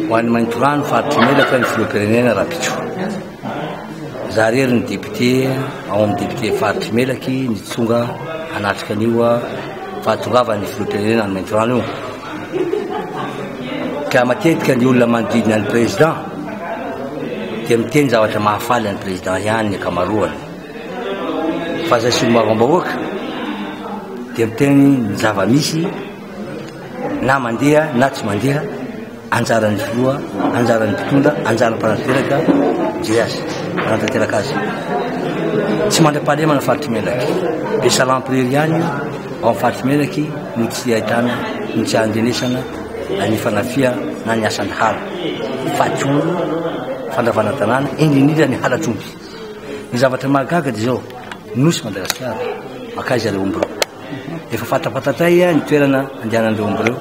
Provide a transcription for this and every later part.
Ho an'ny Maintorano, faritry ny Elatra, ny Filoham-pirenena Rapicho. Za rery ny député ao amin'ny député faritry Melaky nitsonga hanatrika an'io fahatongavan'ny Filoham-pirenena any Maintorano io. Ka matetika ny olona manodidina ny président dia miteny zavatra mahafaly an'ny président ihany ny ankamaroany. Fa izay solombavam-bahoaka dia miteny ny zava-misy na mandeha na tsy mandeha anjaran'ny filoha anjaran'ny mpitondra anjaran'ny mpanatanteraka JS mpanatanteraka azy tsy mandra-pahalemana faritry melaky be salampirery ihany io ao amin'ny faritry melaky no tsy ahitana no tsy andrenesana ny fanafia na ny asan'ny hala fatsolo fandravana tanàna indrindrindra ny halatr'omby ny zavatra mahagaga dia izao nosy madagasikara makaiza ilay omby reo Efa fantafantatray ny toerana andehanan'ireo omby ireo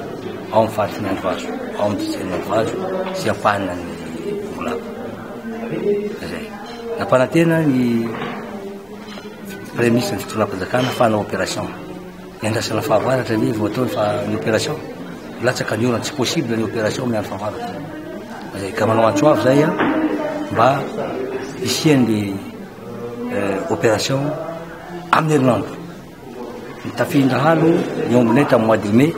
ao amin'ny faritry ny Androvazo, ao amin'ny distrikan'ny Androvazo sy ampahana ny Bongolava. Izay. Nampanantena ny Premier ministre ny fitondram-panjakana fa hanao opération. Niandrasana fahavaratra ve vao atao fa ny opération? Latsaka ny orana, tsy possible ny opération amin'ny andro fahavaratra. Izay. Ka manao antso avo izay mba hisian'ny opération amin'ny herinandro. Nitafian-dahalo ny Omnet amin'ny mois de mai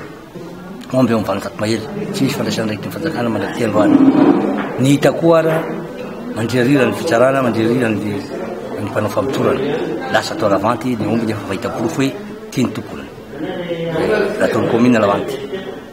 omby ao amin'ny Valanjato Mahery. Tsy misy fandraisana andraikitry ny fanjakana mandrak'ity androany. Ny hita koa ara, mandrirarira ny fitsarana, mandrirarira ny ny mpanao famotorana. Lasa tao Lavanty ny omby nefa efa hita porofo hoe ity ny tomponiny. Raha tao ny kaominina Lavanty.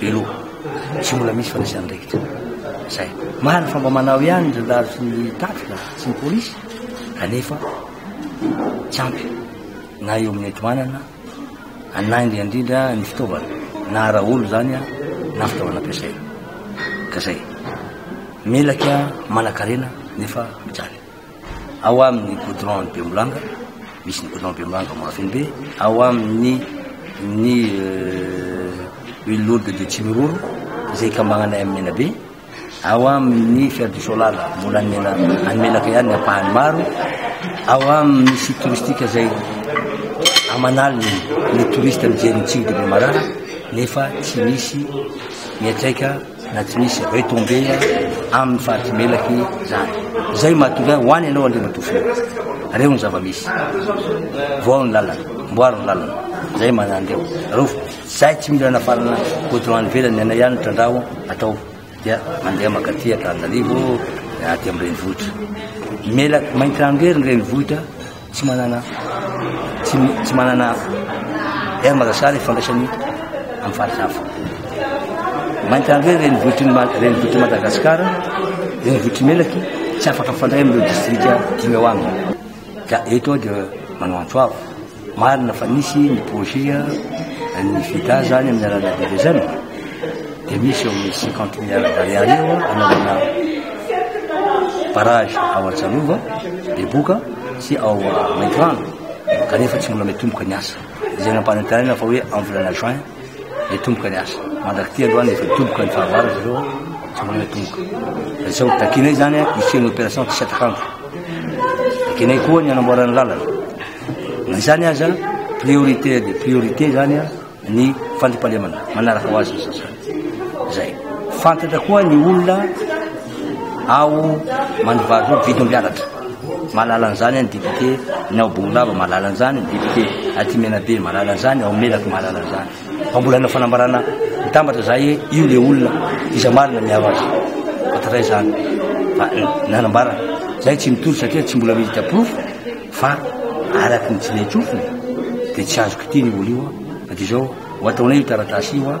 Beloha. Tsy mbola misy fandraisan'andraikitra. Zay. Marina fa mba manao ihany ny zandary sy ny tafika sy ny polisy kanefa tsy ampy na eo amin'ny enti-manana na indrindra indrindra ny fitaovana na ara-olo zany a na fitaovana ampiasaina. Ka zay. Melaka manan-karena nefa mijaly. ao amin'ny goudron ny Bemolanga, misy ny goudron Bemolanga Mahafinbe, ao amin'ny ny euh, une lourde de Tsimiroro izay ikambananay amin'ny Menabe, ao amin'ny Fer du Solar mbola any Mena- any Menaka ihany ny ampahany maro, ao amin'ny site touristique izay aman'aliny ny touriste mijery ny tsilo de Bemarara nefa tsy misy miantraika na tsy misy retombé aminy faritry melaky zany zay mahatonga ahy hoany ianao andriamatoa filoha reo ny zava-misy voao ny lalana mboaro ny lalana zay manandeo reo zay tsy mila nafarana goudron any velany anay ihany trandraho atao dia mandeha makaty atarinarivo aty amin'ny renivohitra melaky maintirano rery ny renivohitra Tsy manana tsy manana air marasa ny fandraisany amin'ny faritra hafa. Mainty andro hoe renivohitry ny renivohitry Madagasikara, renivohitry Melaky tsy afaka mifandray amin'ireo distrika dimy ao aminy. Ka eto dia manao antso avo. Marina fa nisy ny projet ny FIDA zany amin'ny alalan'ny Aviation. dia misy eo amin'ny cinquante milliards d'ariary eo hanaovana barrage ao Antsalova, Beboka sy ao Maintirano kanefa tsy mbola mitomboka ny asa. Izay nampanantenaina fa hoe amin'ny volana juin mitomboka ny asa. Mandrak'ity aloha ny efa mitomboka ny fahavalo zareo tsy mbola mitomboka. Dia sao takinay izany hisian'ny opération tsy satakandro. Takinay koa ny hanamboarana lalana. Na izany aza priorité dia priorité izany ny fandriampahalemana manaraka ho azy ny sasany. Izay. Fantatra koa ny olona ao Mandivary roa vidomby alatra. Mahalala an'izany ny député ny ao Bongolava mahalala an'izany ny député aty Menabe mahalala an'izany ao Melaky mahalala an'izany. Fa mbola hanao fanambarana mitambatra za hoe io le olona iza marina miaro azy. Fantatra izany. Fa nanambara zay tsy mitory satria tsy mbola misy diaporofo Fa araka ny tsinaintsofina dia tsy azo kitihina io vola io an! Fa dia izao, ho ataonay io taratasy io an!